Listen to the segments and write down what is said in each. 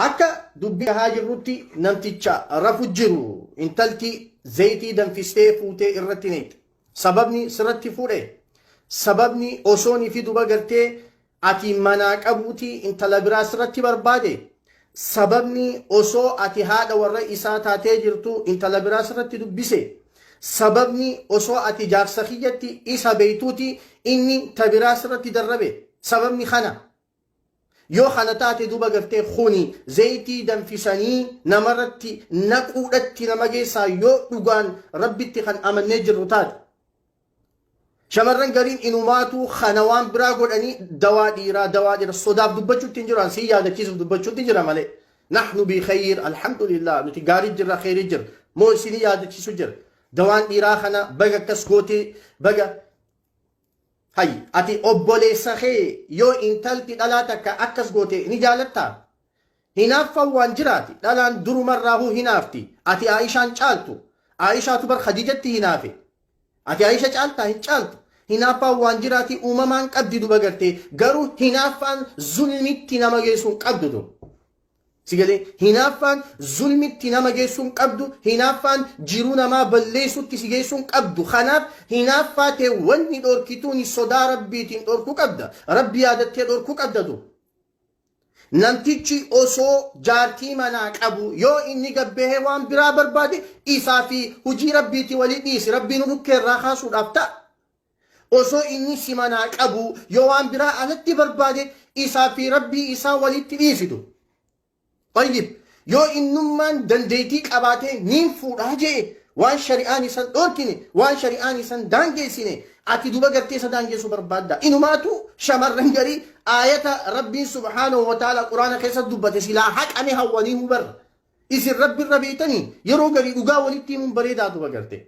Akka dubbii dhahaa jirrutti namticha rafu jiru intalti zayitii danfistee fuutee irratti neeqxe. Sababni sirratti fuudhe. Sababni osoon fi duba gartee ati manaa qabuuti intala biraa sirratti barbaade. Sababni osoo ati haadha warra isaa taatee jirtu intala biraa sirratti dubbise. Sababni osoo ati jaarsa kiyyatti isa beeytuuti inni ta biraa sirratti darrabe. Sababni kana Yoo kana taate duuba gartee kuni zeytii danfisanii namarratti naquudhatti nama geessaa yoo dhugaan Rabbitti kan amannee jirru taate. Shamarran gariin inumaatuu kana waan biraa godhanii dawaa dhiiraa dawaa dhiira sodaaf dubbachuutti hin jiru an sii yaadachiisuuf dubbachuutti jira malee. Nahnu bi khayr alhamdulillah nuti gaarii jirra khayrii jirra moo isinii yaadachiisu jira. Dawaan dhiiraa kana baga akkas gootee baga Hay ati obboleessa kee yoo intalti dhalaa takka akkas goote ni jaalattaa? Hinaaffan waan jiraati dhalaan durumarraahuu hinaafti ati Aa'ishaan caaltu Aa'ishaatu bar Khadiijatti hinaafe ati Aa'isha caaltaa hin caaltu hinaaffaan waan jiraati uumamaan qabdi dubagartee garuu hinaaffaan zulmitti nama geessu hin qabdu tun. Si galee? Hinaaffaan zulmitti nama geessuu hin qabdu, hinaaffaan jiruu namaa balleessutti si geessuu hin qabdu. Kanaaf hinaaffaa tee wanni dhorkituuni sodaa Rabbiitiin dhorkuu qabda. Rabbi yaadattee dhorkuu qabda du. Namtichi osoo jaartii manaa qabu yoo inni gabbahee waan biraa barbaade isaa fi hujii Rabbiitii walii dhiisi. Rabbii nu dhukkeerraa kaasuudhaaf ta'a. Osoo inni si manaa qabuu yoo waan biraa alatti barbaade isaa fi Rabbii isaa walitti dhiisitu. Tayyib, yoo innummaan dandeeytii qabaatee niin fuudhaa je'e waan shari'aan isan dhoorkine, waan shari'aan isan daangeessine ati duba gartee isa daangeessu barbaaddaa? Inumaatu shamarran garii aayata Rabbiin subhaanahu wa ta'aalaa Qur'aana keessatti dubbate silaa haqame hawwaniihu bar. Isin Rabbirra beeytanii yeroo garii dhugaa walitti himuun bareedaa duba gartee.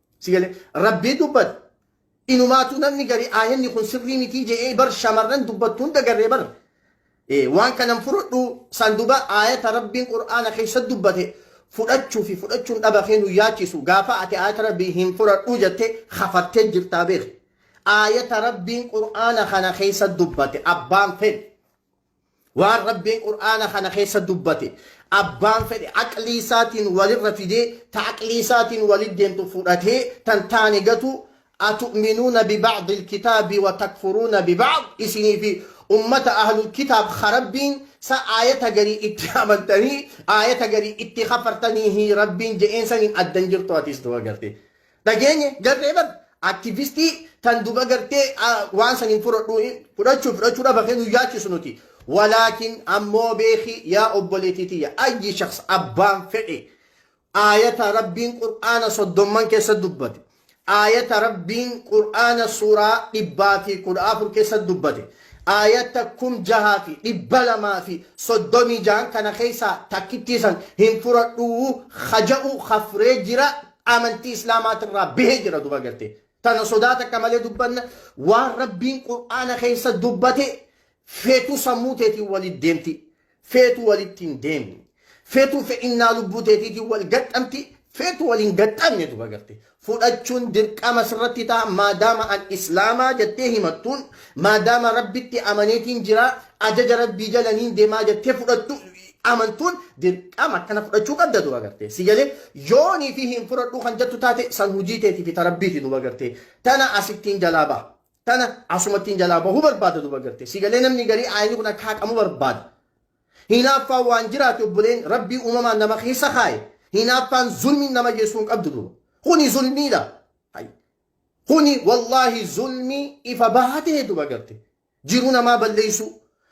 Si galee? Rabbii dubbate. Inumaatuu namni gari aayanni kun sirrii mitii je'ee bar shamarran dubbattu hunda garree bar. Eh, Waan kanan fudhadhu san duba aayata Rabbiin Qur'aana keessa dubbate fudhachuu fi fudhachuun dhaba kee nu yaachisu gaafa ati aayata Rabbii hin fudhadhu jette kafartee jirtaa beeki. Aayata Rabbiin Qur'aana kana keessa dubbate abbaan fedhe. Waan Rabbiin Qur'aana kana keessa dubbate abbaan fedhe aqlii isaatiin walirra fidee ta aqlii isaatiin walit deemtu fudhatee tan taane gatu Atu'minuuna biba'dil kitaabi wa takfuruuna biba'd isinii fi ummata ahlul kitaab ka Rabbiin sa aayata garii itti amantanii aayata garii itti kafartaniihii Rabbiin je'een saniin addan jirtu atiis duba gartee. dhageenye garree bar aktivistii tan duba gartee waan san hin fudhadhu fudhachuu fudhachuu dhaba kee nu yaachisu nuti walaakin ammoo beeki yaa obboleetii tiyya ayyi shaks abbaan fedhe aayata rabbiin qur'aana soddomman keessa dubbate aayata rabbiin qur'aana suuraa dhibbaa fi kudha afur keessa dubbate aayata kum jahaa fi dhibba lamaa fi soddomii jahan kana keessaa takkittiisan hin fudhadhuu haja'u hafree jira amantii islaamaatirraa bahee jira duba garte tana sodaa takka malee dubbanna waan rabbiin qur'aana keessa dubbate feetu sammuu teetiin walitti deemti feetu walitti hin deemne feetu fedhinnaa lubbuu teetiitiin wal gaxxamti feetu waliin gaxxamne duba garte fudhachuun dirqama sirratti ta'a maadaama an islaamaa jettee himattuun maadaama rabbitti amaneetiin jira ajaja rabbii jalaniin deemaa jettee fudhattu Amantuun dirqama akkana fudhachuu qabda duba gartee si galee yoonii fi hin fudhadhuu kan jettu taate san hujii teetii fi ta rabbiiti duba gartee tana asittiin jalaa baha tana asumattiin jalaa bahuu barbaada duba gartee si galee namni garii aayni kun akka haqamu barbaada hinaaffaan waan jiraate obboleen rabbii uumamaan nama keessa kaaye hinaaffaan zulmiin nama geessuu hin qabdu duba kuni zulmiidha hay kuni wallaahi zulmii ifa bahaa ta'e duba gartee Jiruu namaa balleessuu.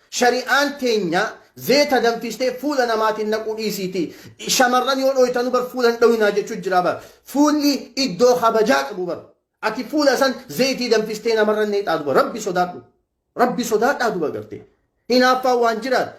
Shari'aan teenya zeeta danfistee fuula namaatiin naquu dhiisiiti. Shamarran yoo dhooytanu bar fuula hin dhooynaa jechuu jira bar. Fuulli iddoo kabajaa qabu bar. Ati fuula san zeetii danfistee namarra neexaa duba. Rabbi sodaadhu. Rabbi sodaadhaa duba garte. Hinaaffaan waan jiraat.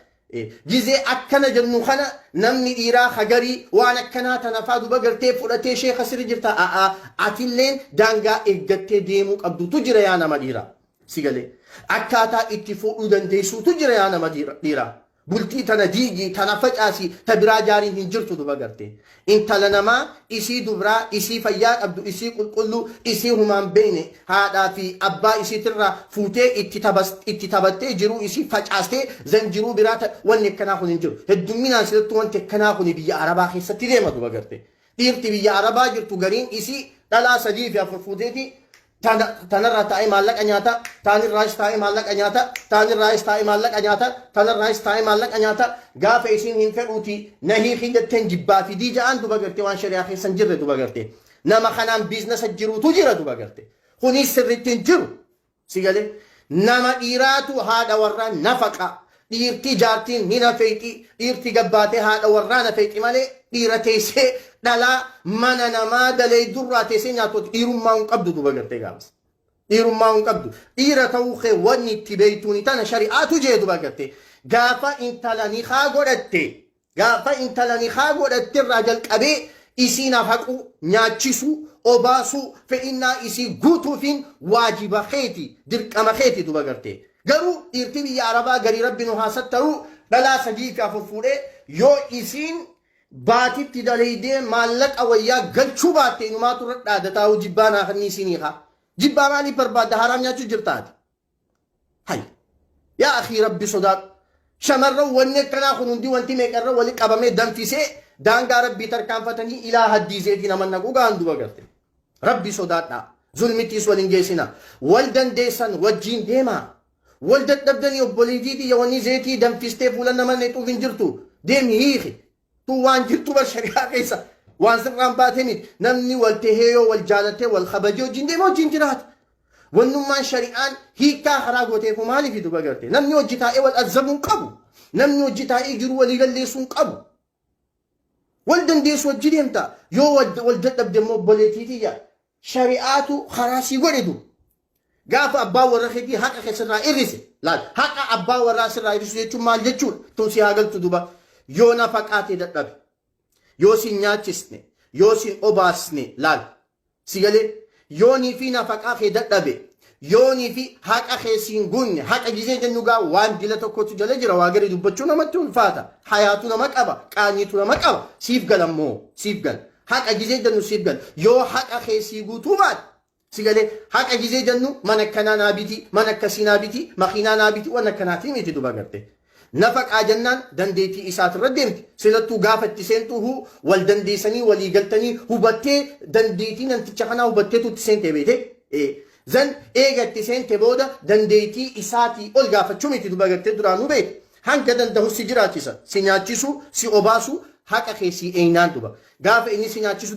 Gizee akkana jennu kana namni dhiiraa hagarii waan akkanaa tanafaa duba gartee fudhatee sheeka sirri jirta a'aa atilleen daangaa eeggattee deemuu qabdutu jira yaa nama dhiiraa. Si galee? Akkaataa itti fuudhuu dandeessuutu jira yaa nama dhiiraa. Bultii tana diigii, tana facaasii, ta biraa jaariin hin jirtu duba gartee. Intala namaa, isii dubraa, isii fayyaa qabdu, isii qulqulluu, isii humaan beeyne, haadhaa fi abbaa isiitirraa fuutee itti tabattee jiruu isii facaastee zan jiruu biraa ta wanni akkanaa kun hin jiru. Heddumminaan silattuu wanti akkanaa kun biyya Arabaa keessatti deema duba gartee. Dhiirti biyya Arabaa jirtu gariin isii dhalaa sadii fi afur fuuteeti Tana, tanarraa taa'ee maallaqa nyaata, taanirraayis taa'ee maallaqa nyaata, taanirraayis taa'ee maallaqa nyaata, tanarraayis taa'ee maallaqa nyaata, gaafa isiin hin fedhuuti na hiikii jetteen jibbaa fidii ja'aan duba gartee waan shari'aa keessa hin jirre duba gartee. Nama kanaan biiznasa jiruutu jira duba gartee. Kuniis sirriitti hin jiru. Si galee? Nama dhiiraatu haadha warraa nafaqaa. Dhiirtii jaartiin ni nafeexi, dhiirtii gabbaatee haadha warraa nafeexi malee dhiira teessee dhalaa mana namaa daleeydu irraa teessee nyaatu ati dhiirummaa hin qabdu duba gartee gaafas. Dhiirummaa hin qabdu. Dhiira ta'uu kee wanni itti beeytuuni tana shari'aatu jee duba gartee gaafa intala nikaa godhatte Gaafa intala nikhaa godhatte irraa jalqabee isii nafaquu, nyaachisuu, obaasuu, fedhinnaa isii guutuufiin waajiba keeti, dirqama keeti duba gartee. Garuu dhiirti biyya Arabaa garii Rabbi nu haa sattaruu dhalaa sadii fi afur fuudhee yoo isiin baatitti daleeydee maallaqa wayyaa galchuu baatte inumaatu irra dhaadataa hoo jibbaa naa kennii sii niikaa. Jibbaa maaliif barbaadda haaraam nyaachuu jirta ati. Hay. Yaa akii rabbi sodaadhu. Shamarran wanni akkanaa kun hundi wanti meeqarra wali qabamee danfisee daangaa rabbii tarkaanfatanii ilaa haddiiseetii nama naquu gahaan duba garte. Rabbi sodaadhaa. Zulmitiis waliin geessina. Wal dandeessan wajjiin deemaa. Wal dadhabdanii obboleetii tiyya wanni zeetii danfistee fuula nama naqxuuf hin jirtu. Deemi hiiki. Tun waan jirtuu bar shari'aa keessa waan sirraan baatee miti. Namni wal tahee yoo wal jaalatee wal kabajee wajjin deemee wajjin jiraata. Wannummaan shari'aan hiikkaa haraa gootee koo maaliif duba garte? Namni hojji taa'ee wal azabuu hin qabu. Namni hojji taa'ee jiru walii galleessuu hin qabu. Wal dandeessu wajji deemta. Yoo wal dadhabde immoo obboleettii tiyya shari'aatu karaa sii godhe duuba. Gaafa abbaan warra keetii haqa kee sirraa irrise laal haqa abbaa warraa sirraa irrisu jechuun maal jechuudha tun si haa galtu duuba yoo nafaqaa tee dadhabe yoo sin nyaachisne yoo sin obaasne laal si galee yoonii fi nafaqaa kee dadhabe yoonii fi haqa kee siin gunne haqa gizee jennu gaa waan dila tokkotu jala jira waa gari dubbachuu namatti ulfaata hayaatu nama qaba qaanyiitu nama qaba siif galammoo siif gala Haqa gizee jannu siif gala. Yoo haqa kee sii guutuu baate si galee. Haqa gizee jannu mana akkanaa naa biti, mana akkasii naa biti, makiinaa naa biti waan akkanaatii miti duba garte. Nafaqaa jannaan dandeetii isaatirra deemti. Silattuu gaafa itti seentuu huu wal dandeessanii walii galtanii hubattee dandeetii namticha kanaa hubatteetu itti seentee beete. Ee. Then eega itti seente booda dandeetii isaatii ol gaafachuu miti duba garte duraanuu beekta. Hanga dandahu si jiraachisa, si nyaachisu, si obaasu, haqa kee sii eeynaan dhuba. Gaafa inni si nyaachisu